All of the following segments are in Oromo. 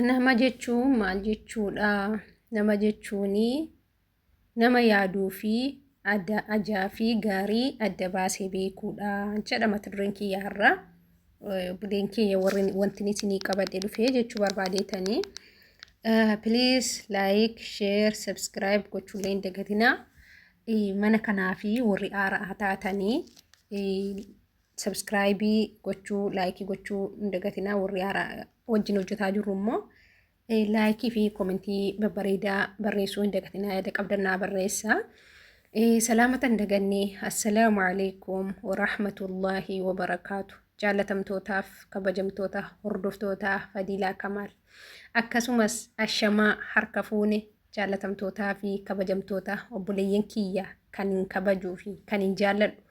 Nama jechuun maal jechuudha? Nama jechuun nama yaaduu fi ajaa fi gaarii adda baasee beekuudha jedha mata dureen kiyya har'aa. Buleen kiyya warri wanti isinii qabadhe dhufee jechuu barbaadeetanii. Please like, share, subscribe gochuun hin dagatinaa. Mana kanaa fi warri haaraa taatanii Sabskraayibii gochuu, laayikii gochuu hin dagatinaa warri haaraa wajjin hojjetaa jirru immoo laayikii fi koomentii babbareedaa barreessuu hin dagatinaa yaada qabdan naa barreessaa. Salaamata hin daganne assalaamu alaikum warahmatullaahi wabarakaatu jaallatamtootaaf kabajamtoota hordoftootaa Fadiilaa Kamaal akkasumas ashamaa harka fuune jaallatamtootaa fi kabajamtoota obboleeyyan kiyya kan hin kabajuu fi kan hin jaalladhu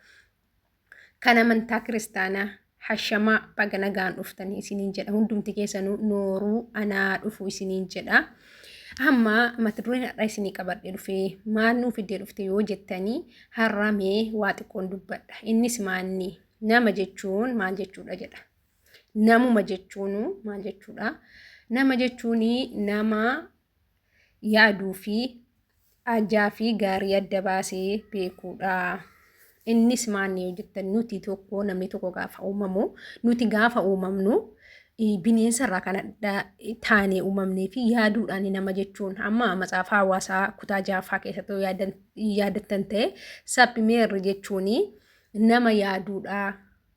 kan amantaa kiristaanaa hashamaa baga nagaan dhuftanii isiniin jedha hundumti keessanuu nooruu anaa dhufu isiniin jedha amma mata dureen har'a isinii qabadhe dhufe maal nuu fiddee dhufte yoo jettanii har'a mee waa xiqqoon dubbadha innis maanni nama jechuun maal jechuudha jedha namuma jechuun maal jechuudha nama jechuun nama yaaduu fi ajaa fi gaarii adda baasee beekuudha. Innis maanni yoo jettan nuti tokko namni tokko gaafa uumamu nuti gaafa uumamnu bineensa irraa kan adda taane uumamnee fi yaaduudhaan nama jechuun amma macaafa hawaasaa kutaa jaaffaa keessatti yoo yaadan- yaadattan ta'e saphimeerri jechuun nama yaaduudha.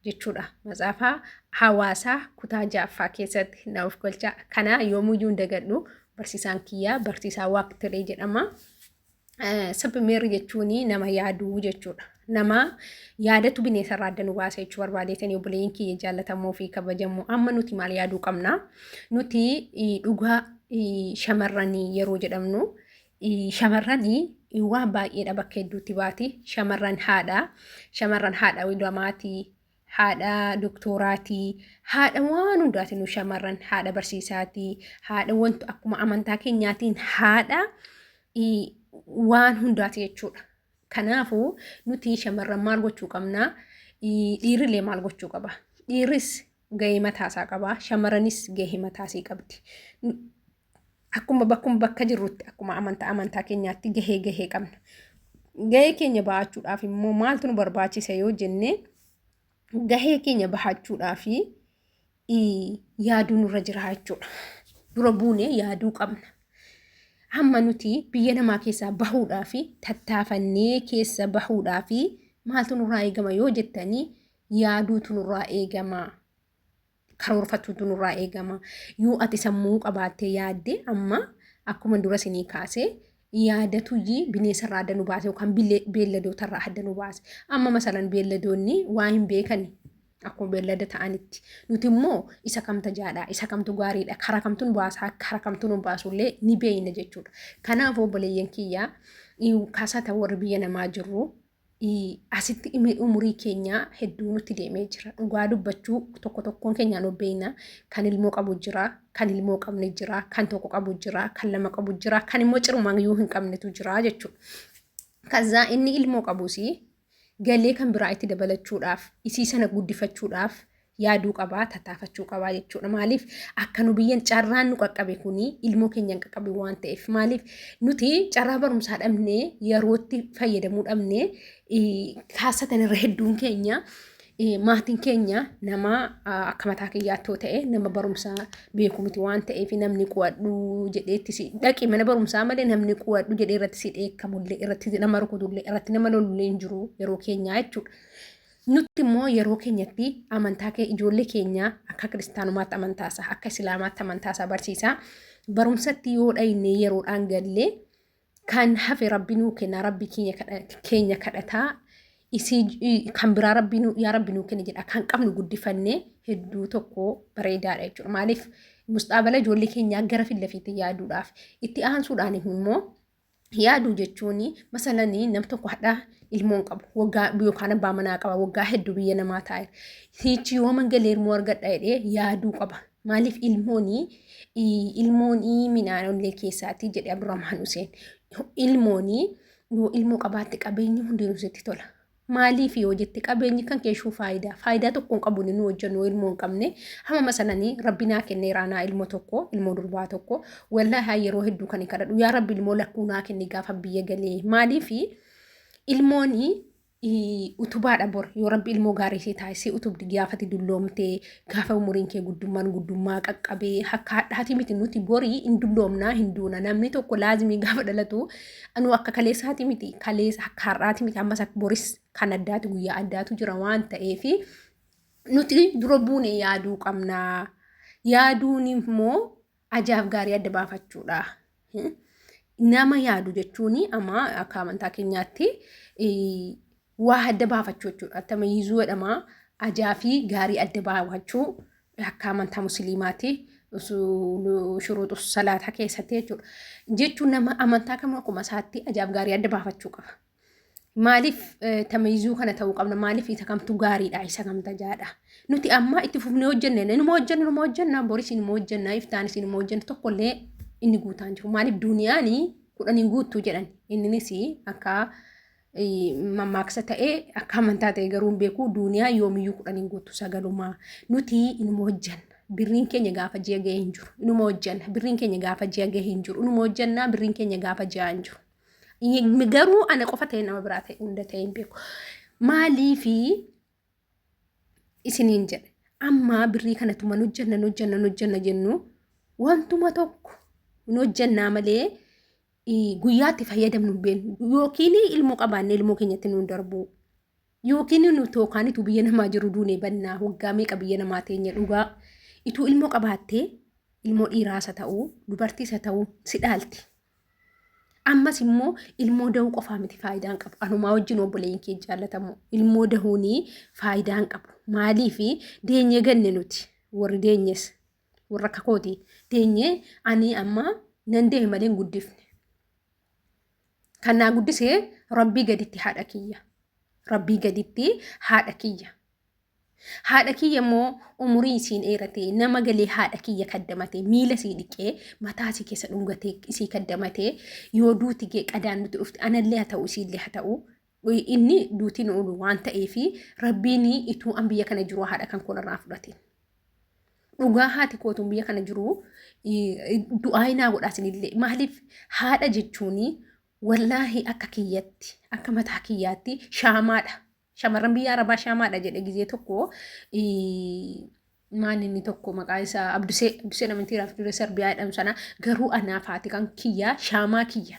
jechuudha. Matsaafaa hawaasaa kutaa ja'affaa keessatti na of galchaa. Kana yoomuyyuu hin dagadhu. Barsiisaan kiyyaa barsiisaa waaqtilee jedhama. Sabmeerri jechuun nama yaaduu jechuudha. Nama yaadatu bineensa irraa adda nu baasa jechuu barbaadeetanii obboleeyyiin kiyya jaallatamoo fi kabajamoo amma nuti maal yaaduu qabna? Nuti dhugaa shamarranii yeroo jedhamnu Shamarrani waan baay'eedha bakka hedduutti baati. Shamarran haadha, shamarran haadha wilamaatii, haadha doktoraatii, haadha waan hundaati nu shamarran haadha barsiisaatii, haadha wantu akkuma amantaa keenyaatiin haadha waan hundaati jechuudha. Kanaafuu nuti shamarran maal gochuu qabnaa? Dhiirrillee maal gochuu qaba? Dhiirris gahee mataasaa qaba. Shamaranis gahee mataasii qabdi. Akkuma bakkuma bakka jirrutti akkuma amantaa amantaa keenyaatti gahee gahee qabna. Gahee keenya bahachuudhaaf immoo maaltu nu barbaachisa yoo jenne gahee keenya bahachuudhaaf yaaduu nurra jira jechuudha. Dura buune yaaduu qabna. Hamma nuti biyya namaa keessaa bahuudhaaf tattaafannee keessa bahuudhaaf maaltu nurraa eegama yoo jettanii yaaduutu nurraa eegama. Karoorfachuutu nurraa eegama. Yoo ati sammuu qabaattee yaadde amma akkuma dura sinii kaasee yaadatuyyii bineensarraa adda nu baase yookaan beelladootarraa adda nu baase. Amma masalan beelladoonni waa hin beekani. Akkuma beellada ta'anitti nuti immoo isa kamta jaadha isa kamtu gaariidha kara kamtu nu baasaa kara kamtu nu baasullee ni beeyna jechuudha. Kanaaf obboleeyyan kiyyaa kaasata warri biyya namaa jirru asitti imee umurii keenyaa hedduu nutti deemee jira dhugaa dubbachuu tokko tokkoon keenyaa nu beeyna kan ilmoo qabu jira kan ilmoo qabne jira kan tokko qabu jira kan lama qabu jira kan immoo cirumaan yoo hin qabnetu jira jechuudha. Kazaa inni ilmoo qabus galee kan biraa itti dabalachuudhaaf isii sana guddifachuudhaaf yaaduu qabaa tattaafachuu qabaa jechuudha maaliif akka nu biyyan carraan nu qaqqabe kuni ilmoo keenya hin qaqqabe waan ta'eef maaliif nuti carraa barumsaa dhabne yerootti fayyadamuu dhabne kaasatan irra hedduun keenya maatiin keenya nama akka mataa kiyyaatoo ta'e nama barumsaa beeku miti waan ta'eef namni qo'adhu jedheetti si dhaqi mana barumsaa malee namni qo'adhu jedhee irratti si dheekkamullee irratti nama rukutullee irratti nama lolullee hin jiru yeroo keenyaa jechuudha. Nutti immoo yeroo keenyatti amantaa kee ijoollee keenya akka kiristaanumaatti amantaasa akka islaamaatti amantaasa barsiisaa barumsatti yoo dhayne yeroodhaan gallee kan hafe rabbi nuu kenna rabbi keenya kadhataa kan biraa rabbi yaa rabbi nuu kenna jedha kan qabnu guddifannee hedduu tokko bareedaadha jechuudha maaliif musxaabala ijoollee keenyaa gara fillafiitti yaaduudhaaf itti aansuudhaan immoo yaaduu jechuun masalanii nam tokko hadhaa ilmoon qabu waggaa yookaan abbaa manaa qaba waggaa hedduu biyya namaa taa'e hiichi yoo mangalee ilmoo argadha jedhee yaaduu qaba maaliif ilmoonii ilmoonii minaanollee keessaatii jedhe Abdurrahmaan Huseen ilmoonii yoo ilmoo qabaatte qabeenyi hundinuu sitti tola Maaliif yoo jette qabeenyi kan keeshuu faayidaa faayidaa tokko hin qabu nu hojjennu ilmoo hin qabne hamama sananii rabbi naa kenne iraanaa ilmoo tokko ilmoo durbaa tokko wallaahi yeroo hedduu kan hin kadhadhu yaa rabbi ilmoo lakkuu naa kenne gaafa biyya galee maaliif ilmooni utubaadha bor yoo rabbi ilmoo gaarii si taasisee utubdi gaafati dulloomtee Gaafa umuriin kee guddummaan guddummaa qaqqabee akka hadhaati miti nuti borii hin dulloomnaa hin duuna namni tokko laazimii gaafa dhalatu anuu akka kaleessaati miti kaleessa akka har'aati miti ammas akka boris kan addaati guyyaa addaatu jira waan ta'eef nuti dura buune yaaduu qabnaa yaaduun immoo Ajaaf gaarii adda baafachuudha. Nama yaadu jechuun amma akka amantaa keenyaatti waa adda baafachuu jechuudha. Attama yiizuu jedhama ajaa fi gaarii adda baafachuu akka amantaa musliimaati. Shuruutu salaataa keessatti jechuudha. Jechuun nama amantaa kamuu akkuma isaatti ajaaf gaarii adda baafachuu qaba. Maaliif tameezuu kana ta'uu qabna? Maaliif isa kamtu gaariidha? Isa kamta jaadha? Nuti amma itti fufnee hojjenne inuma hojjenna inuma hojjenna boris inuma hojjenna iftaanis inuma hojjenna tokkollee inni guutaan jiru. Maaliif duuniyaan kudhaniin guuttuu jedhan inninis akka mammaaksa ta'ee akka amantaa ta'e garuu hin beeku duuniyaa yoomiyyuu kudhaniin guuttu sagalumaa nuti inuma hojjenna. Birriin keenya gaafa ji'a ga'ee hin jiru. Inuma hojjenna. Birriin keenya gaafa ji'a ga'ee hin jiru. Inuma hojjenna. Birriin keenya gaafa ji'a hin jiru. Garuu ana qofa ta'e nama biraa ta'e hunda ta'e hin beeku. Maaliifi isiniin jedhe amma birrii kanatu man hojjanna hin hojjanna hin hojjanna jennu wantuma tokko hin hojjannaa malee guyyaatti fayyadamnu hin beeknu yookiin ilmoo qabaanne ilmoo keenyatti nuun darbuu. Yookiin nu tookaan ituu biyya namaa jiru duunee bannaa waggaa meeqa biyya namaa teenya dhugaa ituu ilmoo qabaattee ilmoo dhiiraasa ta'uu dubartiisa ta'uu si dhaalti. Ammas immoo ilmoo dahuu qofaa miti faayidaan qabu. Anumaa wajjin obboleeyyin kee jaallatamu ilmoo dahuun faayidaan qabu. Maaliif deenyee ganne nuti warri deenyes warra akka kooti deenyee ani amma nan deeme malee hin guddifne. Kan naa guddise rabbii gaditti haadha kiyya. Rabbii gaditti haadha kiyya. Haadha kiyya immoo umurii isiin dheeratee nama galee haadha kiyya kaddamatee miila isii dhiqee mataa isii keessa dhungatee isii kaddamatee yoo duuti gee qadaan nuti dhufte anallee haa ta'u isiillee haa ta'u inni duutiin oolu waan ta'eef rabbiin ituu an biyya kana jiru haadha kan kolarraa fudhatiin. Dhugaa haati kootuun biyya kana jiru du'aa inaa godhaasinillee maaliif haadha jechuun wallaahi akka kiyyatti akka mataa kiyyaatti shaamaadha. Shamarran biyya arabaa shaamaadha jedhe gizee tokko maal inni tokko maqaa isaa abdusee abdusee namantii raaf dure sarbiyaa jedhamu sana garuu anaaf haati kan kiyyaa shaamaa kiyya.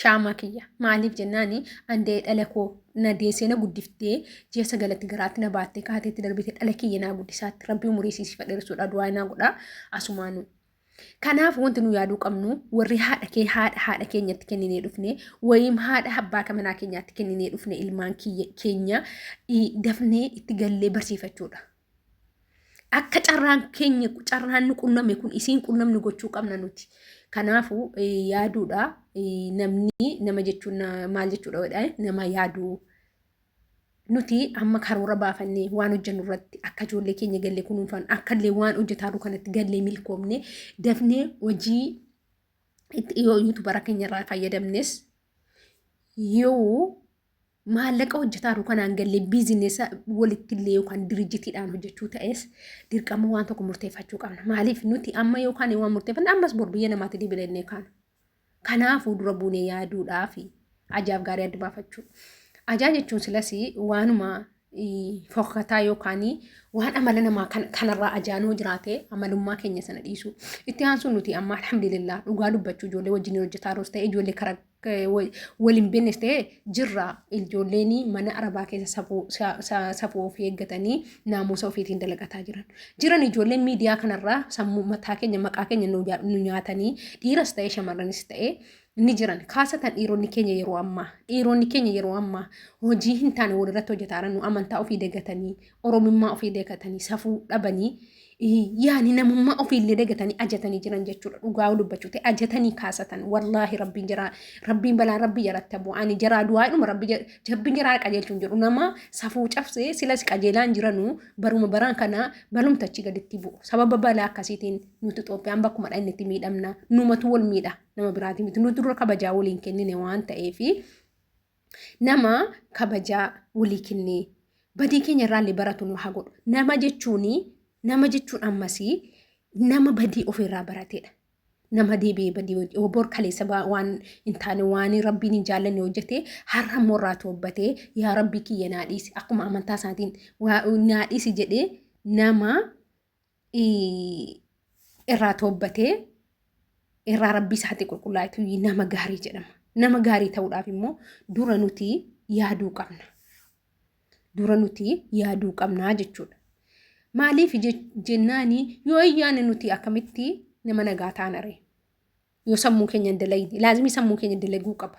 shaamaa kiyya maaliif jennaani andee dhala koo na deessee na guddiftee ji'a sagalatti garaatti na baattee kaateetti darbite dhala kiyya naa guddisaatti rabbii umurii siisii fadheersuudha du'aa naa godha asumaanu. Kanaaf wanti nu yaaduu qabnu warri haadha kee haadha haadha keenyatti kenninee dhufne wayiim haadha abbaa kamanaa keenyaatti kenninee dhufne ilmaan keenya dafnee itti gallee barsiifachuudha. Akka carraan keenya carraan nu qunname kun isiin qunnamnu gochuu qabna nuti. Kanaafuu yaaduudha namni nama jechuun maal jechuudha nama yaaduu. Nuti amma karoora baafannee waan hojjennu irratti akka ijoollee keenya galle kunuunfan akka illee waan hojjetaarru kanatti gallee milkoomne dafnee hojii itti dhiyoo yuutubara keenya irraa fayyadamnes yoo maallaqa hojjetaa kanaan gallee biizinesa walittillee yookaan dirijitiidhaan hojjechuu ta'es dirqama waan tokko murteeffachuu qabna. Maaliif nuti amma yookaan waan murteeffanne ammas bor biyya namaatti deebilee kaana. Kanaafuu dura buunee yaaduudhaa fi ajaaf gaarii adda baafachuu. Ajaa jechuun silas waanuma fokkataa yookaan waan amala namaa kanarraa ajaanoo jiraate amalummaa keenya sana dhiisu. Itti aansuun nuti amma alhamdulillah dhugaa dubbachuu ijoollee wajjin hojjetaa ta'e ijoollee karaa wal hin beeknes ta'e jirra ijoolleen mana arabaa keessa safuu sa- sa- safuu ofii eeggatanii naamusa ofiitiin dalagataa jiran. Jiran ijoolleen miidiyaa kanarraa sammuu mataa keenya maqaa keenya nu ja- nu nyaatanii dhiiras ta'e shamarranis ta'e ni jiran. Kaasatan dhiironni keenya yeroo ammaa dhiironni keenya yeroo ammaa hojii hin taane walirratti hojjetaa jiran nu amantaa ofii dagatanii oromummaa ofii dagatanii safuu dhabanii yaani namummaa ofiillee dagatanii ajatanii jiran jechuudha dhugaa dubbachuu ta'e ajatanii kaasatan wallaahi rabbiin jara rabbiin balaan rabbi jaratti abu ani jara du'aadhuma rabbi jabbiin jara qajeelchuun jedhu nama safuu cabsee silas qajeelaan jiranu baruma baraan kana balumtachi gaditti bu'u sababa balaa akkasiitiin nuti Itoophiyaan bakkuma dhaqne itti miidhamna numatu wal miidha nama biraatii miti nuti dura kabajaa waliin kennine waan ta'eefi nama kabajaa walii kennee badii keenya irraallee baratu nu haa godhu. Nama jechuun nama jechuun ammas nama badii ofirraa barateedha. Nama deebi'ee badii hojii obor kaleessa ba- waan hin taane waan rabbiin hin jaallanne hojjete har'a immoo irraa toobbatee yaa rabbii kiyya naa dhiisi akkuma amantaa isaatiin waa- naa dhiisi jedhee nama irraa toobbatee irraa rabbii isaatti qulqullaa'etu nama gaarii jedhama. Nama gaarii ta'uudhaaf immoo dura nuti yaaduu qabna. Dura nuti yaaduu qabna jechuudha. Maaliif jennaani yoo ayyaana nuti akkamitti nama nagaa taanare yoo sammuu keenya hin dalagine laazimii sammuu keenya dalaguu qaba.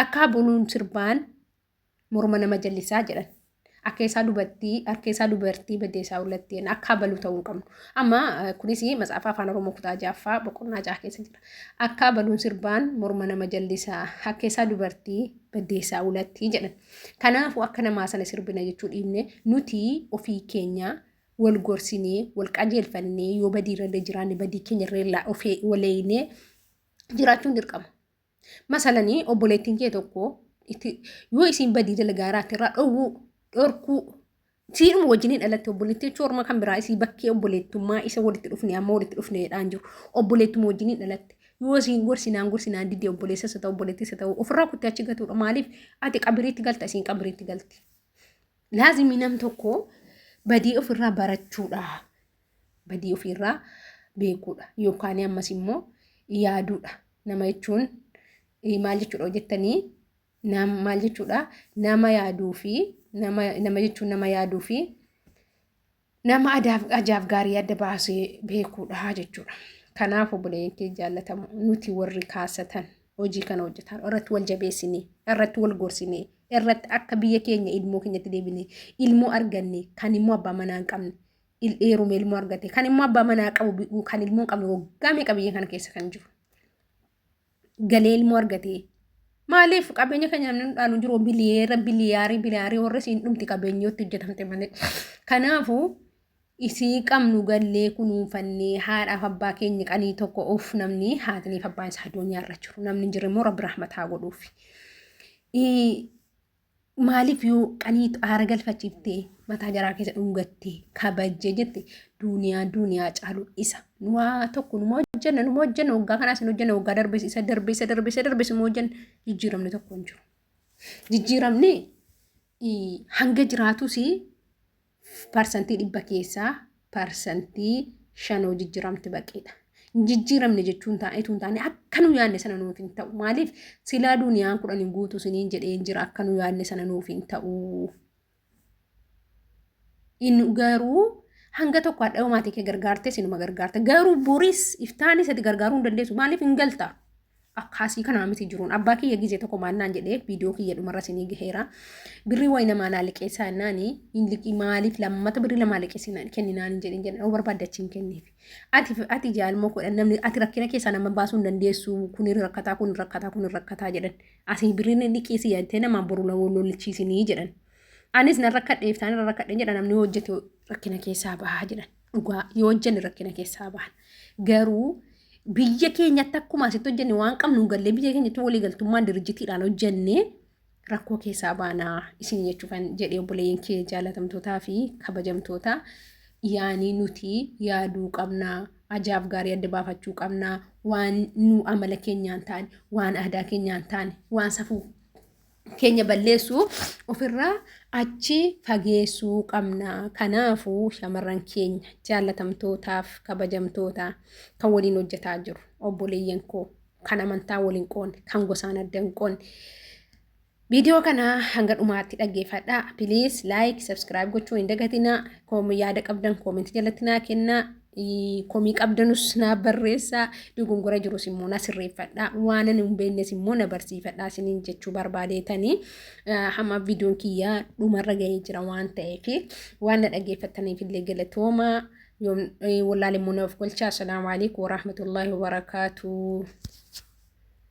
Akka buluun sirbaan Morma nama jallisaa jedhan. Akkeessaa dubartii, harkeessaa dubartii baddeessaa ullatti jenna. Akka abaluu ta'uu hin qabnu. Amma eh, kunis matsaafa afaan Oromoo kutaa jaaffaa boqonnaa jaha keessa jira. Akka abaluun sirbaan morma nama jallisaa, akkeessaa dubartii baddeessaa ullatti jedhan. Kanaafuu akka namaa sana sirbina jechuu dhiibne nuti ofii keenya wal gorsinee, wal qajeelfannee yoo badii irra jiraanne badii keenya irra of waleeynee jiraachuun dirqama. Masalanii obboleettiin kee tokko itti yoo isiin badii dalagaa irraatti irraa dhowwuu dhorkuu siidhuma wajjinii dhalatti obboleettii jechuun orma kan biraa isii bakkee obboleettummaa isa walitti dhufne amma walitti dhufneedhaan jiru obboleettuma wajjinii dhalatti yoo isiin gorsinaan gorsinaan didee obboleessa isa ta'u obboleettii isa ta'u ofirraa kuttee achi gatuudha maaliif ati qabiriitti galta isiin qabiriitti galti. Laazimii nam tokko badii ofirraa barachuudha. Badii ofirraa beekuudha. Yookaan ammas immoo yaaduudha. Nama jechuun maal jechuudha jettanii maal jechuudha nama yaaduu fi nama jechuun nama yaaduu fi nama adaaf ajaaf gaarii adda baasee beekuudha jechuudha. Kanaaf obboleeyyan kee jaallatamu nuti warri kaasatan hojii kana hojjetaan irratti wal jabeessinee irratti wal gorsinee irratti akka biyya keenya ilmoo keenyatti deebinee ilmoo arganne kan immoo abbaa manaa hin qabne il- heerumee ilmoo argate kan immoo abbaa manaa qabu bi- kan ilmoo hin qabne waggaa meeqa biyya kana keessa kan jiru. galee ilmoo argatee. Maaliif qabeenya keenya namni nu dhaalu hin jiru biliyeera biliyaarii biliyaarii warri siin dhumti qabeenyootti hojjetamte malee. Kanaafuu isii qabnu gallee kunuunfannee haadhaaf abbaa keenya qanii tokko uuf namni haatiniif abbaan isaa adoonyaa irra jiru namni hin jirre immoo rabbi rahmataa godhuuf. Maaliif yoo qaniitu aara galfachiiftee mataa jaraa keessa dhungattee kabajjee jette duuniyaa duuniyaa caalu isa waa tokko numa hojjenna numa hojjenna waggaa kanaas hin hojjenna waggaa darbes isa darbe isa darbe isa darbe suma hojjenna jijjiiramni tokko hin jiru. Jijjiiramni hanga jiraatus Parsantii dhibba keessaa parsantii shan hoo jijjiramti baqeedha. Jijjiramne jechuun taa'eetu hin taane akka nu yaadne sana nuuf hin ta'u. Maaliif silaa duuniyaan kudhan hin guutu siniin jedhee hin jira akka nu yaadne sana nuuf hin ta'u. Inni garuu hanga tokko hadha maatii kee gargaartee sinuma gargaarta. Garuu boris iftaanis ati gargaaruu hin dandeessu. Maaliif hin galta? akkaasii kanaa miti jiruun abbaa kiyya gizee tokko maal naan jedhee viidiyoo kiyya dhumarra sinii gaheera birrii wayi namaa naa liqeessaa naani hin liqii maaliif lammata birrii lamaa liqeessi naan kenni naan hin jedhin jedhan barbaadde achi hin kenniif ati ati jaalmoo kudha namni ati rakkina keessaa nama baasuu hin dandeessu kun rakkataa kun rakkataa kun rakkataa jedhan asii birriin liqeessi yaadtee namaa boru lollichiisinii jedhan anis nan rakkadheef isaan irra rakkadhe jedhan namni hojjete rakkina keessaa bahaa jedhan dhugaa yoo hojjenne rakkina keessaa bahan garuu biyya keenyatti akkuma asitti hojjenne waan qabnu hin gallee biyya keenyatti waliigaltummaan dirijjitiidhaan hojjenne rakkoo keessaa baanaa isin jechuu kan jedhee obboleeyyan kee jaalatamtootaa fi kabajamtootaa yaanii nuti yaaduu qabnaa ajaaf gaarii adda baafachuu qabnaa waan nu amala keenyaan taane waan aadaa keenyaan taane waan safuu keenya balleessu ofirraa achi fageessuu qabna. Kanaafuu shamarran keenya jaallatamtootaaf kabajamtoota kan waliin hojjetaa jiru obboleeyyan koo kan amantaa waliin qoonne kan gosaan adda hin qoonne. Viidiyoo kana hanga dhumaatti dhaggeeffadhaa. Piliis laayik, sabskiraayib gochuun hin dagatinaa. Yaada qabdan koomentii jalatti naa kennaa. komii qabdanus naaf barreessaa dogongora jirus immoo na sirreeffadhaa waanan hin beeknes immoo na barsiifadhaa isiniin jechuu barbaadeetanii hamma viidiyoon kiyyaa dhumarra gahee jira waan ta'eef waan na dhaggeeffattaniif illee galatooma yoom wallaalee immoo naaf golchaa assalaamu alaikum warahmatullaahi wabarakaatu.